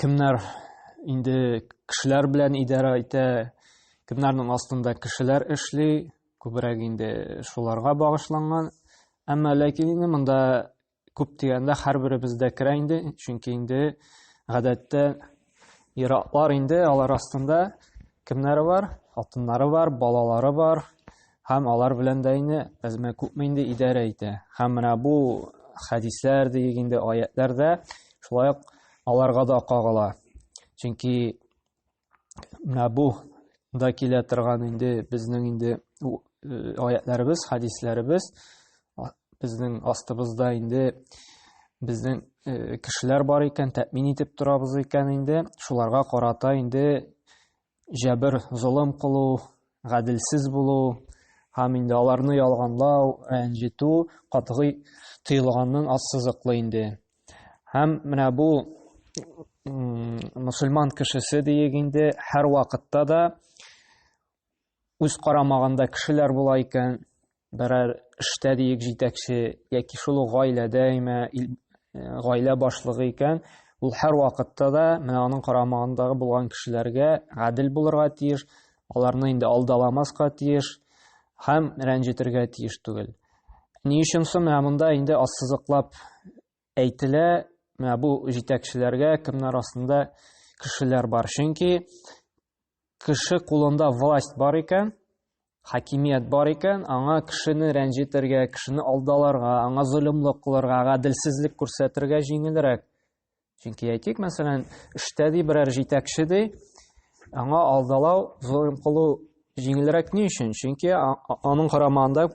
кемнәр инде кешеләр белән идарә итә, кемнәрнең астында кешеләр эшли, күбрәк инде шуларга багышланган. Әмма ләкин инде монда күп дигәндә һәрберебез дә керә инде, чөнки инде гадәттә иратлар инде алар астында кемнәре бар? Хатыннары бар, балалары бар, Һәм алар белән дә инде әзмә күпме инде идарә итә. Һәм менә бу хәдисләр дигән инде аятлар да шулай ук аларга да кагыла. Чөнки менә бу да килә торган инде безнең инде аятларыбыз, хәдисләребез безнең астыбызда инде безнең кешеләр бар икән, тәэмин итеп торабыз икән инде, шуларга карата инде җәбер, золым кылу, гаделсез булу һәм инде аларны ялганлау, рәнҗетү катгый тыелганнан ассызыклы инде. Һәм менә бу мусульман кешесе диек инде һәр вакытта да үз карамагында кешеләр була икән, берәр эштә диек җитәкче яки шул ук гаиләдә имә э, гаилә башлыгы икән ул һәрвакытта да менә аның карамагындагы булган кешеләргә гадел булырга тиеш аларны инде алдаламаска тиеш һәм рәнҗетергә тиеш түгел ни өчен соң менә монда инде ассызыклап Әйтелә, менә бу җитәкчеләргә кемнәр астында кешеләр бар. Чөнки кеше кулында власть бар икән, хакимият бар икән, аңа кешене рәнҗетергә, кешене алдаларга, аңа золымлык кылырга, гаделсезлек күрсәтергә җиңелрәк. Чөнки әйтик, мәсәлән, эштә ди берәр җитәкче ди, аңа алдалау, золым кылу Җиңелрәк ни өчен? Чөнки аның карамагында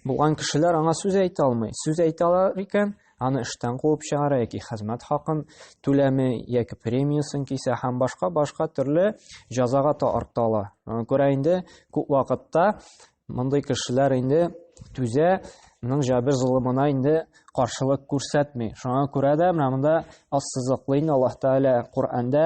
булган кешеләр аңа сүз әйтә алмый. Сүз әйтә алар икән, аны эштән куып чыгара яки хезмәт хакын түләме яки премиясын кисә һәм башка башка төрле җәзага тарта ала. Күрә инде күп вакытта мондый кешеләр инде түзә, моның җабер золымына инде каршылык күрсәтми. Шуңа күрә дә менә монда ассызыклы инде Аллаһ Тәгалә Коръәндә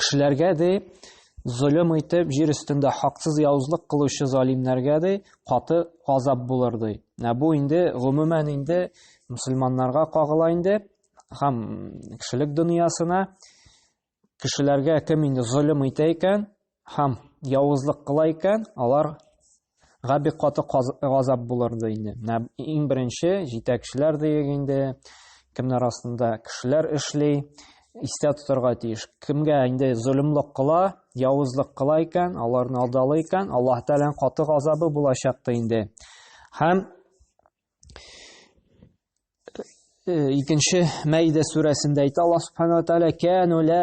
Кешеләргә ди, золым итеп, җир өстендә хаксыз явызлык кылучы залимнәргә ди, каты азап булыр ди. Ә бу инде гомумән инде мусульманнарга кагыла инде һәм кешелек дөньясына кешеләргә кем инде золым итә икән, Һәм явызлык кыла икән, алар га бик каты газап булыр ди инде. Менә иң беренче җитәкчеләр диек инде, кемнәр астында кешеләр эшли, истә тотарга тиеш. Кемгә инде золымлык кыла, явызлык кыла икән, аларны алдалый икән, Аллаһ Тәгаләнең каты газабы булачак ди инде. Һәм икенче Мәйдә сүрәсендә әйтә Аллаһ Субханаһу ва Тәгалә: "Кәну ла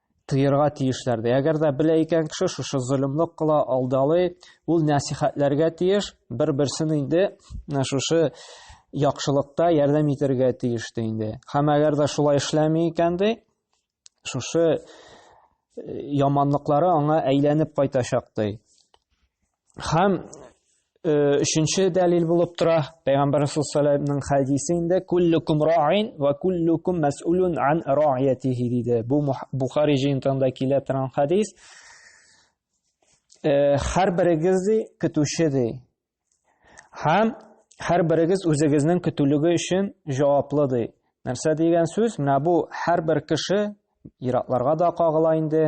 Тыерга тиешләр ди. Әгәр дә белә икән кеше шушы зөлемлек кыла, алдалый, ул нәсихәтләргә тиеш, бер-берсен инде шушы яхшылыкта ярдәм итәргә тиеш ди инде. Һәм әгәр дә шулай эшләми икән ди, шушы яманлыклары аңа әйләнеп кайтачак ди. Һәм өченче дәлил булып тора пәйгамбәр саллаллаһу хәдисе инде куллукум раин ва куллукум мәсулун ан раиятихи диде бу бухари җыентыгында килә торган хәдис һәр берегез ди көтүче ди һәм һәр берегез үзегезнең көтүлеге өчен җаваплы ди нәрсә дигән сүз менә бу һәр бер кеше иратларга да кагыла инде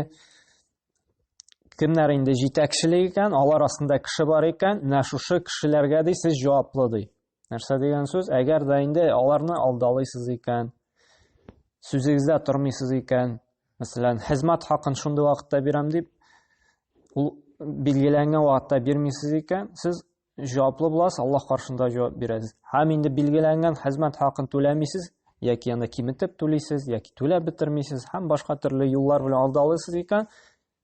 кемнәр инде җитәкчелек икән, алар астында кеше бар икән, менә шушы кешеләргә ди сез җаваплы ди. Нәрсә дигән сүз? Әгәр дә инде аларны алдалыйсыз икән, сүзегездә тормыйсыз икән, мәсәлән, хезмәт хакын шундый вакытта бирәм дип, ул билгеләнгән вакытта бирмисез икән, сез җаваплы буласыз, Аллаһ каршында җавап бирәсез. Һәм инде билгеләнгән хезмәт хакын түләмисез, яки аны киметеп түлисез, яки түләп бетермисез һәм башка төрле юллар белән алдалыйсыз икән,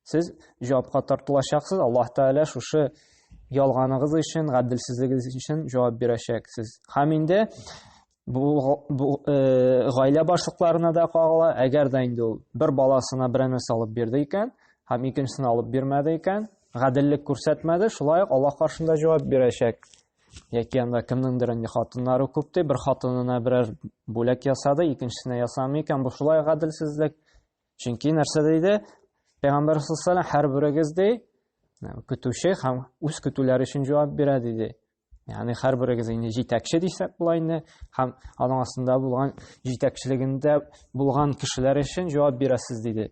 сез җавапка тартылачаксыз. Аллаһ Тәгалә шушы ялганыгыз өчен, гаделсезлегегез өчен җавап бирәчәк сез. Һәм инде бу, бу э, гаилә башлыкларына да кагыла әгәр дә инде ул бер баласына берәр нәрсә алып бирде икән һәм икенчесенә алып бирмәде икән гаделлек күрсәтмәде шулай ук аллаһ каршында җавап бирәчәк яки анда кемнеңдер инде хатыннары күп ди бер хатынына берәр бүләк ясады икенчесенә ясамый икән бу шулай гаделсезлек чөнки нәрсә дейді пайғамбар саллаллаху алейхи һәр берегез ди көтүче һәм үз көтүләре өчен җавап бирә диде Яни һәрберегез инде җитәкче дисәк була инде һәм аның астында булган җитәкчелегендә булган кешеләр өчен җавап бирәсез диде.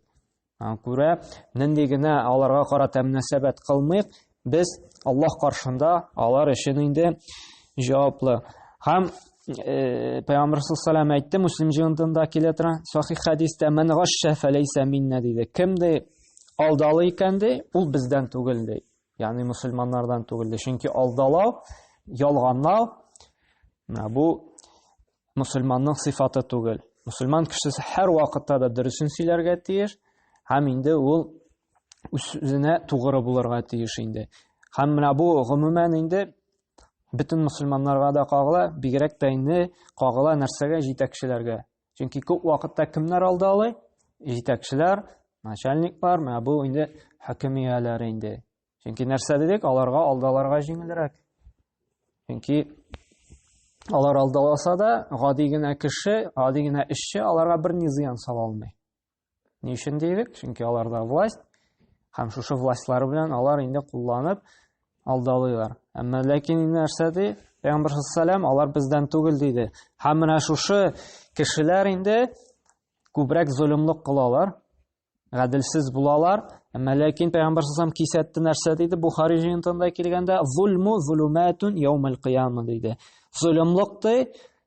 Күрә, нинди генә аларга карата мөнәсәбәт кылмыйк, без Аллаһ каршында алар өчен инде җаваплы. Һәм э, Пәйгамбер саллаллаху әйтте, Муслим җыентында килә тора, сахих хәдистә, "Мен гашша фәләйсә минна" диде. Кем ди алдалый икән ди, ул бездән түгел ди. Ягъни мусульманнардан түгелде. Чөнки алдалау, ялганлау бу мусульманның сыйфаты түгел. Мусульман кешесе һәр вакытта да дөресен сөйләргә тиеш һәм инде ул үзенә тугры булырга тиеш инде. Һәм менә бу гомумән инде бөтен мусульманнарга да кагыла, бигрәк тә инде кагыла нәрсәгә җитәкчеләргә. Чөнки күп вакытта кемнәр алды алай? Җитәкчеләр, начальниклар, менә бу инде хөкем ияләре инде. Чөнки нәрсә дидек, аларга алдаларга җиңелрәк. Чөнки алар алдаласа да, гади генә кеше, гади генә эшче аларга бер ни зыян сала алмый. Ни өчен дидек? Чөнки аларда власть һәм шушы властьлары белән алар инде кулланып алдалыйлар. Әмма ләкин инде нәрсә ди? Пәйгамбер саллаллаху алар бездән түгел диде. Һәм менә шушы кешеләр инде күбрәк золымлык кылалар, гаделсез булалар. Әмма ләкин Пәйгамбер саллаллаху кисәтте нәрсә диде? Бухари җыентында килгәндә, "Зулму зулуматун яумал кыяма" диде. Золымлык ди,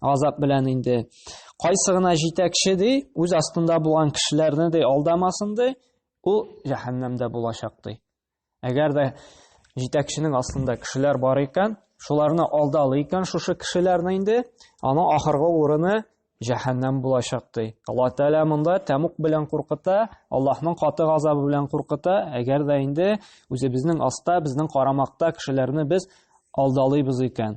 Азап белән инде. Кайсы гына җитәкче ди, үз астында булган кешеләрне ди алдамасын ди, ул җәһәннәмдә булачак ди. Әгәр дә җитәкченең астында кешеләр бар икән, шуларны алдалы икән шушы кешеләрне инде, аның ахыргы урыны җәһәннәм булачак ди. Алла Тәгалә монда тәмук белән куркыта, Аллаһның каты газабы белән куркыта. Әгәр дә инде үзебезнең аста, безнең карамакта кешеләрне без алдалыйбыз икән.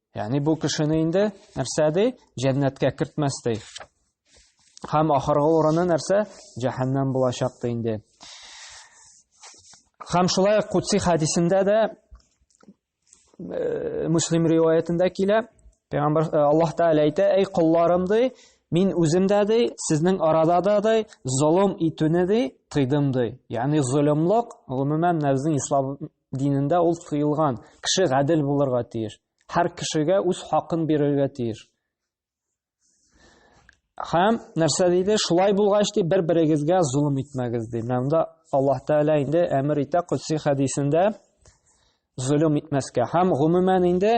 Ягъни бу кешене инде нәрсә ди? Җәннәткә кертмәс ди. Һәм ахыргы урыны нәрсә? Җәһәннәм булачак ди инде. Һәм шулай ук Кутси хадисендә дә э, Муслим риваятендә килә, Пәйгамбер э, Аллаһ Тәгалә әйтә, "Әй кулларым ди, мин үзем дә ди, сезнең арада да ди, золым итүне ди, тыйдым ди." Ягъни золымлык, гомумән, нәфсне ислам динендә ул тыелган. Кеше гадел булырга тиеш. Һәр кешегә үз хакын бирергә тиеш. Һәм нәрсә диде? Шулай булгач ди, бер-берегезгә зулым итмәгез ди. Менә монда Аллаһ Тәгалә инде әмер итә Кудси хәдисендә зулым итмәскә. Һәм гомумән инде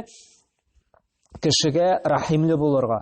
кешегә рәхимле булырга.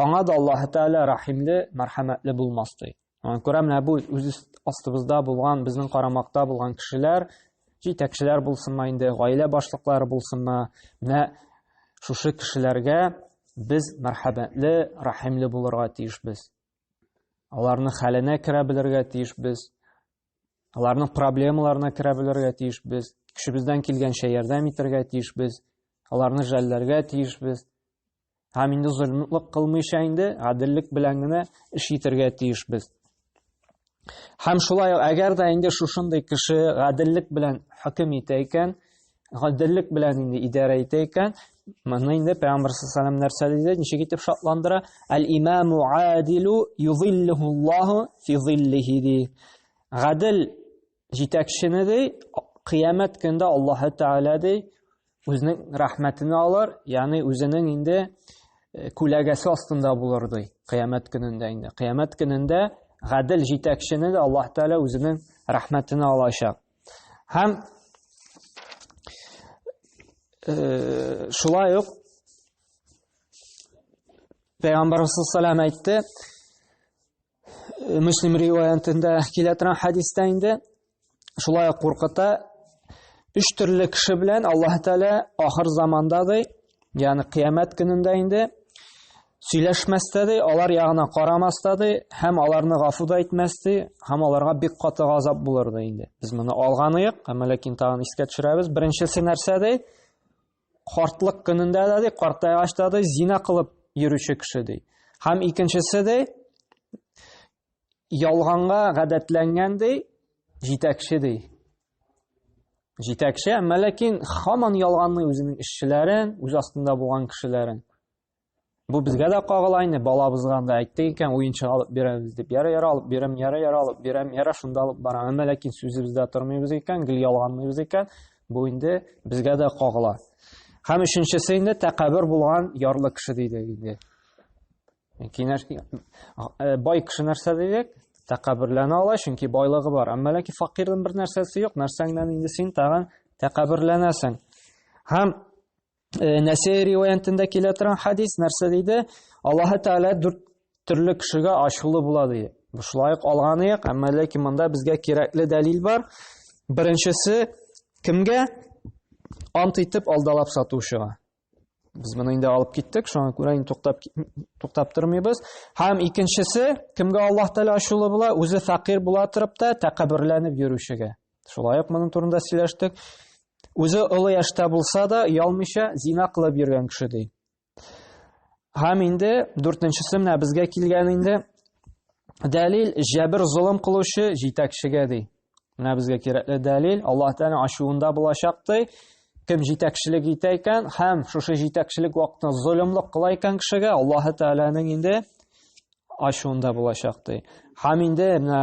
Аңа да Аллаһ Тәгалә рәхимле, мәрхәмәтле булмас ди. Аңа күрә менә бу үз астыбызда булган, безнең карамакта булган кешеләр, җитәкчеләр булсынмы инде, гаилә башлыклары булсынмы, менә шушы кешеләргә без мәрхәмәтле, рәхимле булырга тиешбез. Аларның хәленә керә белергә тиешбез. Аларның проблемаларына керә белергә тиешбез. Көчебездән килгәнчә ярдәм итәргә тиешбез. Аларны жәлләргә тиешбез. Һәм инде золымлык кылмыйча инде гаделлек белән генә эш итәргә тиешбез. Һәм шулай ук әгәр дә инде шушындый кеше гаделлек белән хөкем итә икән, гаделлек белән инде идарә итә икән, моны инде Пәйгамбер саллаллаху нәрсә диде, ничек итеп шатландыра? Әл-имаму адилу юзиллиху Аллаху фи зиллихи. Гадел җитәкчене ди кыямәт көндә аллаһы тәгалә ди үзенең рәхмәтен алыр ягъни үзенең инде э, күләгәсе астында булыр ди кыямәт көнендә инде кыямәт көнендә гадел җитәкчене дә аллаһ тәгалә үзенең рәхмәтен алачак һәм э, шулай ук пайгамбарыбыз салам әйтте Муслим риваятында килә торган хадистә инде шулай ук куркыта өч төрле кеше белән Аллаһ Тәгалә ахыр заманда ди, ягъни кыямәт көнендә инде сөйләшмәстә ди, алар ягына карамаста ди, һәм аларны гафу да итмәс ди, һәм аларга бик каты газап булыр ди инде. Без моны алганыек, әмма ләкин тагын искә төшерәбез. Беренчесе нәрсә ди? Картлык көнендә дә ди, картайгач та ди, зина кылып йөрүче кеше ди. Һәм икенчесе ди, ялганга гадәтләнгән ди, җитәкче ди. Җитәкче, әмма ләкин хаман ялганлый үзенең эшчеләрен, үз астында булган кешеләрен. Бу безгә дә кагыла инде, балабызга да әйттек икән, уенчык алып бирәбез дип. Яра яра алып бирәм, яра яра алып бирәм, яра шунда алып барам. Әмма ләкин сүзебездә тормыйбыз икән, гел ялганмыйбыз икән, бу инде безгә дә кагыла. Һәм өченчесе инде тәкәббер булган ярлы кеше диде инде. Кинәш э, бай кеше нәрсә дидек? Тәкәбберләнә ала, чөнки байлыгы бар. Әмма ләкин факирның бер нәрсәсе юк, нәрсәңнән инде син тагын тәкәбберләнәсең. Һәм Э, Нәсәй риваятында килә торган хадис нәрсә диде? Аллаһы Тәгалә дүрт төрле кешегә ачулы була ди. Шулай ук алганы як, әмма ләкин монда безгә кирәкле дәлил бар. Беренчесе кемгә? Ант итеп алдалап сатучыга. Без моны инде алып киттек, шуңа күрә инде туктап туктап тормыйбыз. Һәм икенчесе кемгә Аллаһ Тәгалә ачулы була? Үзе фәкыйр була торып та тәкәбберләнеп йөрүчегә. Шулай ук моның турында сөйләштек. Үзе олы яшьтә булса да, ялмыйча зина кылып йөргән кеше ди. Һәм инде дүртенчесе менә безгә килгән инде. Дәлил җәбер золым кылучы җитәкчегә ди. Менә безгә кирәкле дәлил Аллаһ Тәгалә ачуында булачак ди. Кем җитәкчелек итә икән һәм шушы җитәкчелек вакытында золымлык кыла икән кешегә, Аллаһ Тәгаләнең инде ачуында булачак ди. Һәм инде менә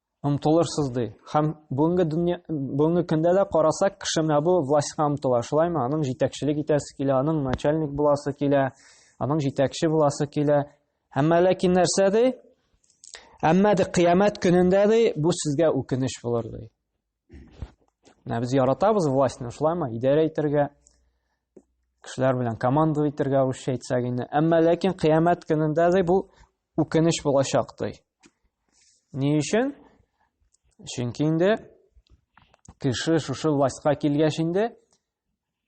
омтылырсыз ди. Һәм бүгенге дөнья бүгенге көндә дә карасак, кеше менә бу властька омтыла, шулаймы? Аның җитәкчелек итәсе килә, аның начальник буласы килә, аның җитәкче буласы килә. Әмма ләкин нәрсә ди? Әмма ди кыямәт көнендә ди бу сезгә үкенеч булыр ди. Менә без яратабыз властьны, шулаймы? Идарә итәргә, кешеләр белән команда итәргә русча әйтсәк инде. Әмма ләкин кыямәт көнендә дә бу үкенеч булачак ди. Ни өчен? Чөнки инде кеше шушы властька килгәч инде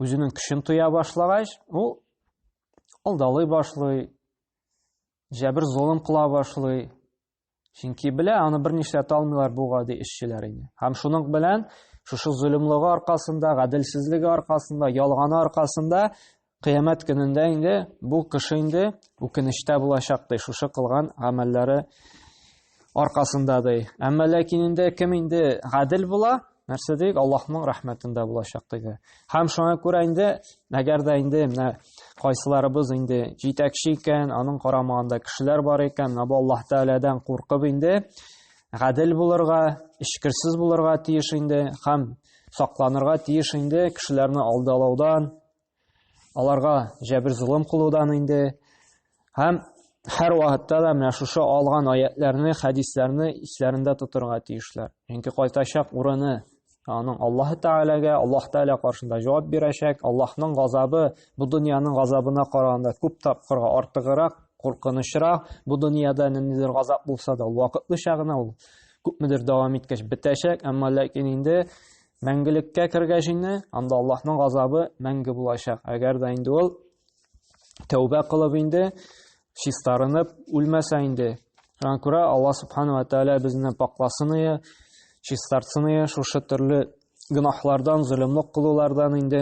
үзенең көчен тоя башлагач, ул алдалый башлый, җәбер золым кыла башлый, Чөнки белә, аны бер нишләтә алмыйлар бу гади эшчеләр инде. Һәм шуның белән шушы зөлемлыгы аркасында, гаделсезлеге аркасында, ялганы аркасында кыямәт көнендә инде бу кеше инде үкенештә булачак ди, шушы кылган гамәлләре аркасында ди. Әмма ләкин инде кем инде гадел була, нәрсә дик аллаһның рәхмәтендә булачак диде һәм шуңа күрә инде әгәр дә инде менә кайсыларыбыз инде җитәкче икән аның карамагында кешеләр бар икән менә бу аллаһ тәгаләдән куркып инде гадел булырга эчкерсез булырга тиеш инде һәм сакланырга тиеш инде кешеләрне алдалаудан аларга җәбер золым кылудан инде һәм һәр вакытта да менә шушы алган аятләрне, хәдисләрне исләрендә тотырга тиешләр. Чөнки кайтачак урыны аның Аллаһ Тәгаләгә, Аллаһ Тәгалә каршында җавап бирәчәк. Аллаһның газабы бу дөньяның газабына караганда күп тапкырга артыграк, куркынычрак. Бу дөньяда ниндидер газап булса да, ул вакытлыча гына ул күпмедер дәвам иткәч бетәчәк, әмма ләкин инде Мәңгелеккә кергәч инде, анда Аллаһның газабы мәңге булачак. Әгәр дә инде ул тәүбә кылып инде, чистарынып үлмәсә инде. Шуңа күрә Аллаһ субхана ва тәгалә безне пакласын ие, чистартсын ие шушы төрле гөнаһлардан, зөлемлек кылулардан инде.